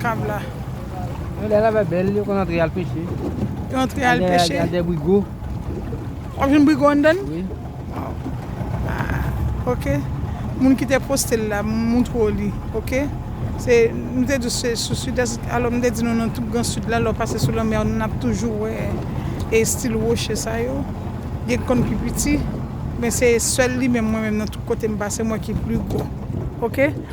kab la. Yo lè la vè bèl yo konn antre al peche. Yo antre al peche. Al dè brigo. Wap jwenn brigo anndan? Wi. Ah ok. Moun ki te poste l la m montre w li ok. Se nou te di w se sou sidès alò m te di nou nan tout gran sid la lè w pase sou lanmè a nap toujou wè estil woche sa yo. Gen k konn pi piti men se sèl li menm mwen menm nan tout kote m pase m wè ki pli gwo ok.